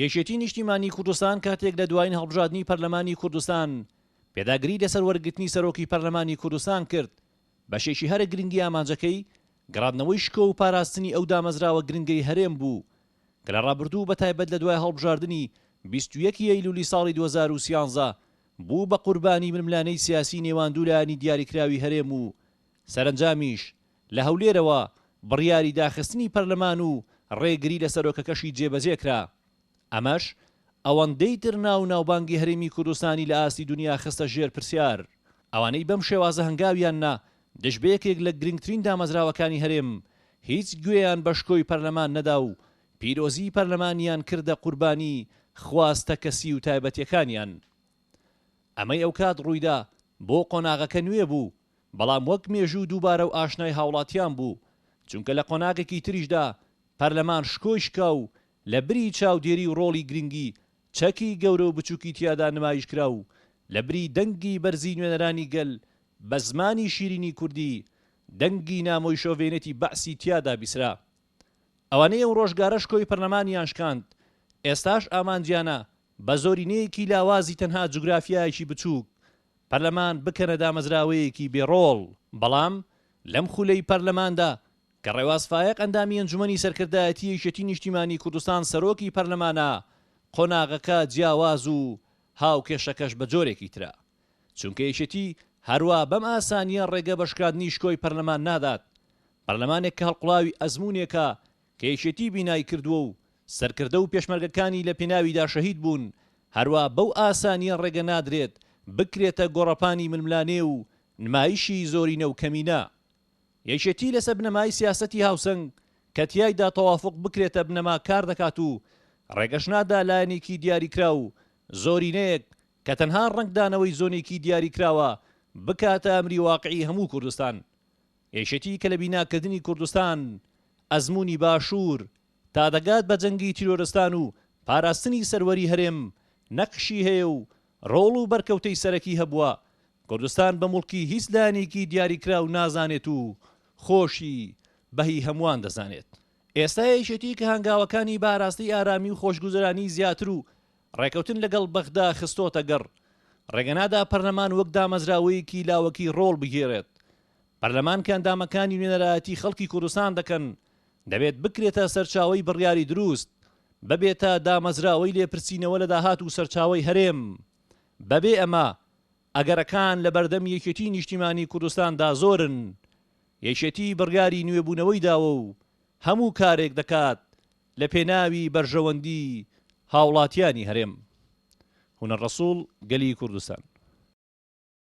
یەکێتی نیشتیمانی کوردستان کاتێک لە دوایین هەڵبژادنی پەرلەمانی کوردستان پێداگری لەسەر وەرگرتنی سەرۆکی پەرلەمانی کوردستان کرد بەشێکی هەرە گرنگی ئامانجەکەی گەڕادنەوەی شکۆ و پاراستنی ئەو دامەزراوە گرنگەی هەرێم بوو کە لە ڕابردوو بە تایبەت لە دوای هەڵبژاردنی بیست و یەک ئەیلولی ساڵی دوو هەزار و سیانزە بوو بە قوربانی ململانێی سیاسی نێوان دوو لایەنی دیاریکراوی هەرێم و سەرەنجامیش لە هەولێرەوە بڕیاری داخستنی پەرلەمان و ڕێگری لە سەرۆکەکەشی جێبەجێ کرا. ئەمەش ئەوەندەی تر ناو و ناوبانگی هەرێمی کوردستانی لە ئاستی دونیا خستە ژێر پرسیار. ئەوانەی بەم شێوازە هەنگاویان نا دژ بە یەکێک لە گرنگترین دامەزراوەکانی هەرێم، هیچ گوێیان بە شکۆی پەرلەمان نەدا و پیرۆزیی پەرلەمانیان کردە قوربانی خواستە کەسی و تایبەتییەکانیان. ئەمەی ئەوکات ڕوویدا بۆ قۆناغەکە نوێ بوو. بەڵام وەک مێژوو دووبارە و ئاشنای هاوڵاتیان بوو، چونکە لە قۆناغێکی تریشدا پەرلەمان شکۆی شکا و لە بری چاودێری و ڕۆڵی گرنگی چەکی گەورە و بچووکی تیادا نمایشکرا و لە بری دەنگی بەرزی نوێنەرانی گەل بە زمانی شیرینی کوردی دەنگی نامۆی شۆڤێنێتی بەعسی تیادا بیسرا. ئەوانەی ئەو ڕۆژگارە شکۆی پەرلەمانیان شکاند، ئێستاش ئامانجیانە بە زۆرینەیەکی لاوازی تەنها جوگرافیایەکی بچووک پەرلەمان بکەنە دامەزراوەیەکی بێ ڕۆڵ. بەڵام لەم خولەی پەرلەماندا کە ڕێواز فایەق ئەندامی ئەنجومەنی سەرکردایەتی یەکێتی نیشتیمانی کوردستان سەرۆکی پەرلەمانە قۆناغەکە جیاواز و هاوکێشەکەش بە جۆرێکی ترە چونکە یەکێتی هەروا بەم ئاسانیە ڕێگە بە شکاندنی شکۆی پەرلەمان نادات پەرلەمانێک کە هەڵقوڵاوی ئەزمونێکە کە یەکێتی بینای کردووە و سەرکردە و پێشمەرگەکانی لە پێناویدا شەهید بوون، هەروا بەو ئاسانییە ڕێگە نادرێت بکرێتە گۆڕەپانی ململانێ و نمایشی زۆرینە و کەمینە. یەکێتی لەسەر بنەمای سیاسەتی هاوسەنگ کە تیایدا تەوافوق بکرێتە بنەما کار دەکات و ڕێگەش نادا لایەنێکی دیاریکراو، زۆرینەیەک، کە تەنها ڕەنگدانەوەی زۆنێکی دیاریکراوە، بکاتە ئەمری واقعی هەموو کوردستان. یەکێتی کە لە بیناکردنی کوردستان، ئەزموونی باشوور، تا دەگات بە جەنگی تیرۆرستان و پاراستنی سەروەری هەرێم، نەقشی هەیە و ڕۆڵ و بەرکەوتەی سەرەکی هەبووە، کوردستان بە موڵکی هیچ لایەنێکی دیاریکراو نازانێت و خۆشی بە هی هەمووان دەزانێت. ئێستا یەکێتی کە هەنگاوەکانی بە ئاراستەی ئارامی و خۆشگوزەرانی زیاتر و ڕێکەوتن لەگەڵ بەغدا خستۆتەگەڕ، ڕێگەنادا پەرلەمان وەک دامەزراوەیەکی لاوەکی ڕۆڵ بگێرێت. پەرلەمان کە ئەندامەکانی نوێنەرایەتی خەڵکی کوردستان دەکەن، دەبێت بکرێتە سەرچاوەی بڕیاری دروست، ببێتە دامەزراوەی لێپرسینەوە لە داهات و سەرچاوەی هەرێم. بەبێ ئەمە، ئەگەرەکان لەبەردەم یەکێتی نیشتیمانی کوردستاندا زۆرن. یەکێتی بڕیاری نوێبوونەوەی داوە و هەموو کارێک دەکات لە پێناوی بەرژەوەندی هاوڵاتیانی هەرێم هونەر ڕەسوڵ گەلی کوردستان.